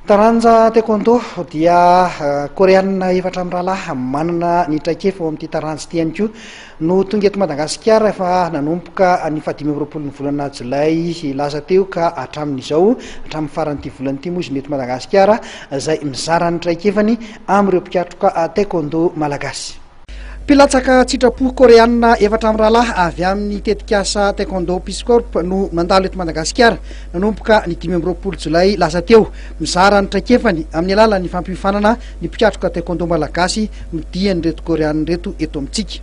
Taranja Taekwondo dia Koreana efatra mirahalahy manana ny traikefa ao amin'ity taranja ity ihany koa no tonga eto Madagasikara efa nanomboka ny fahadimy amby roapolo ny volana jolay lasa teo ka hatramin'izao hatramin'ny faran'ity volana ity moa izy no eto Madagasikara izay mizara ny traikefany amin'ireo mpikatroka taekwondo malagasy. Mpilatsaka an-tsitrapo Koreana efatra mirahalahy avy amin'ny tetikasa Taekwondo Peace Corps no nandalo eto Madagasikara nanomboka ny dimy amby roapolo jolay lasa teo. Mizara ny traikefany amin'ny alalan'ny fampiofanana ny mpikatroka Taekwondo Malagasy nodian'ireto Koreana ireto eto amintsika.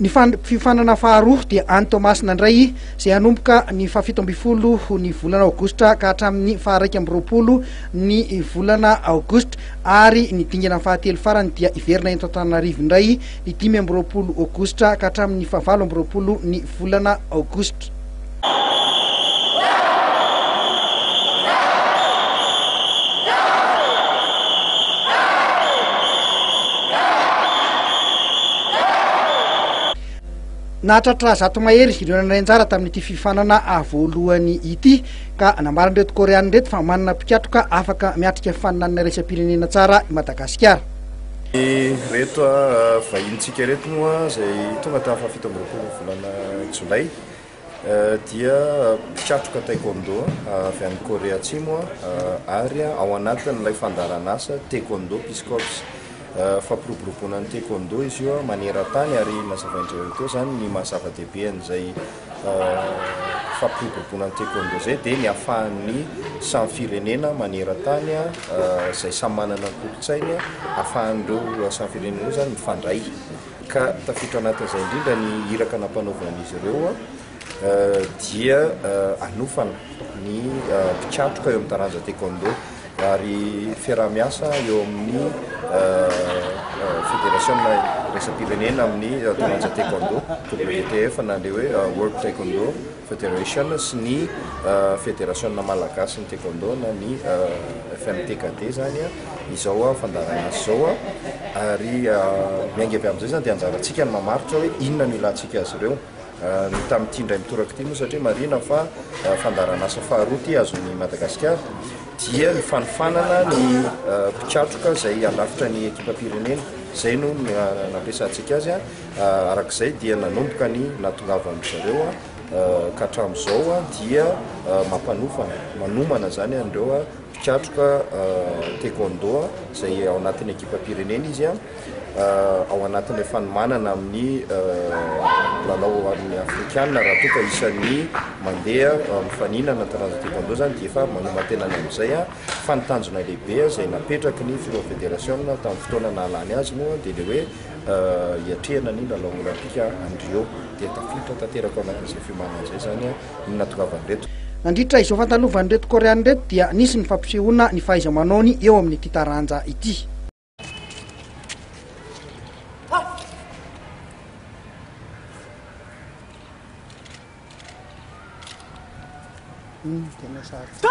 Ny fiofanana faharoa dia any Toamasina indray izay hanomboka ny fahafito ambin'ny folo ny volana aogositra ka hatramin'ny faharaika amby roapolo ny volana aogositra ary ny dingana fahatelo farany dia hiverina eto Antananarivo indray ny dimy amby roapolo aogositra ka hatramin'ny fahavalo amby roapolo ny volana aogositra. Nahatratra zato mahery ireo nandray anjara tamin'ity fifanana voalohany ity ka nambaran'ireto Koreana ireto fa manana mpikatroka afaka miatrika fifaninanana iraisam-pirenena tsara i Madagasikara. Ireto vahinin-tsika ireto moa izay tonga tamin'ny fahafito amby roapolo volana jolay dia mpikatroka taekwondo avy any Korea Atsimo ary ao anatin'ilay fandaharan'asa Taekwondo Peace Corps. Fampiroboroboana ny taekwondo izy io maneran-tany ary nazavain'i Jereo teo izany ny maha zava-dehibe an'izay fampiroboroboana ny taekwondo izay dia ny ahafahan'ny samy firenena maneran-tany izay samy manana ny kolontsainy ahafahan'ireo samy firenena ireo izany mifandray. ka tafiditra anatin'izay indrindra ny iraka nampanaovan'izy ireo dia hanofana ny mpikatroka eo amin'ny taranja taekwondo ary fiaraha-miasa eo amin'ny federasiona iraisam-pirenena amin'ny taranja taekwondo WTF na ilay hoe World Taekwondo Federation sy ny Federasiona Malagasin'ny Taekwondo na ny FMTKT izany izao fandaharana azy izao ary miainga avy amin'izay izany dia anjarantsika ny mamaritra hoe inona no ilantsika azy ireo. Ny tamin'ity indray mitoraka ity moa satria marihina fa fandaharanasa faharoa ity azon'i Madagasikara dia ny fanofanana ny mpikatroka izay handrafitra ny ekipam-pirenena. Izay no nampiasantsika azy. Araka izay dia nanomboka ny nahatongavan-dry zareo ka hatramin'izao dia mampanofana, manomana izany an'ireo mpikatroka taekwondo izay ao anatin'ny ekipam-pirenena izy ao anatin'ilay fanomanana amin'ny lalao ho an'ny afrikana raha toa ka isan'ny mandeha mifaninana taranja taekwondo izany dia efa manoman-tenany amin'izay fa ny tanjona lehibe izay napetraky ny filoha federasiona tamin'ny fotoana nahalany azy moa dia ilay hoe hiatrehana ny lalao Olaimpika any Rio dia tafiditra tanteraka ao anatin'izay fiomanana izay izany ny nahatongavan'ireto Nandritra izao fandalovan'ireto Koreana ireto dia nisy ny fampisehoana ny fahaiza-manaony eo amin'ity taranja ity. Tena sarotra.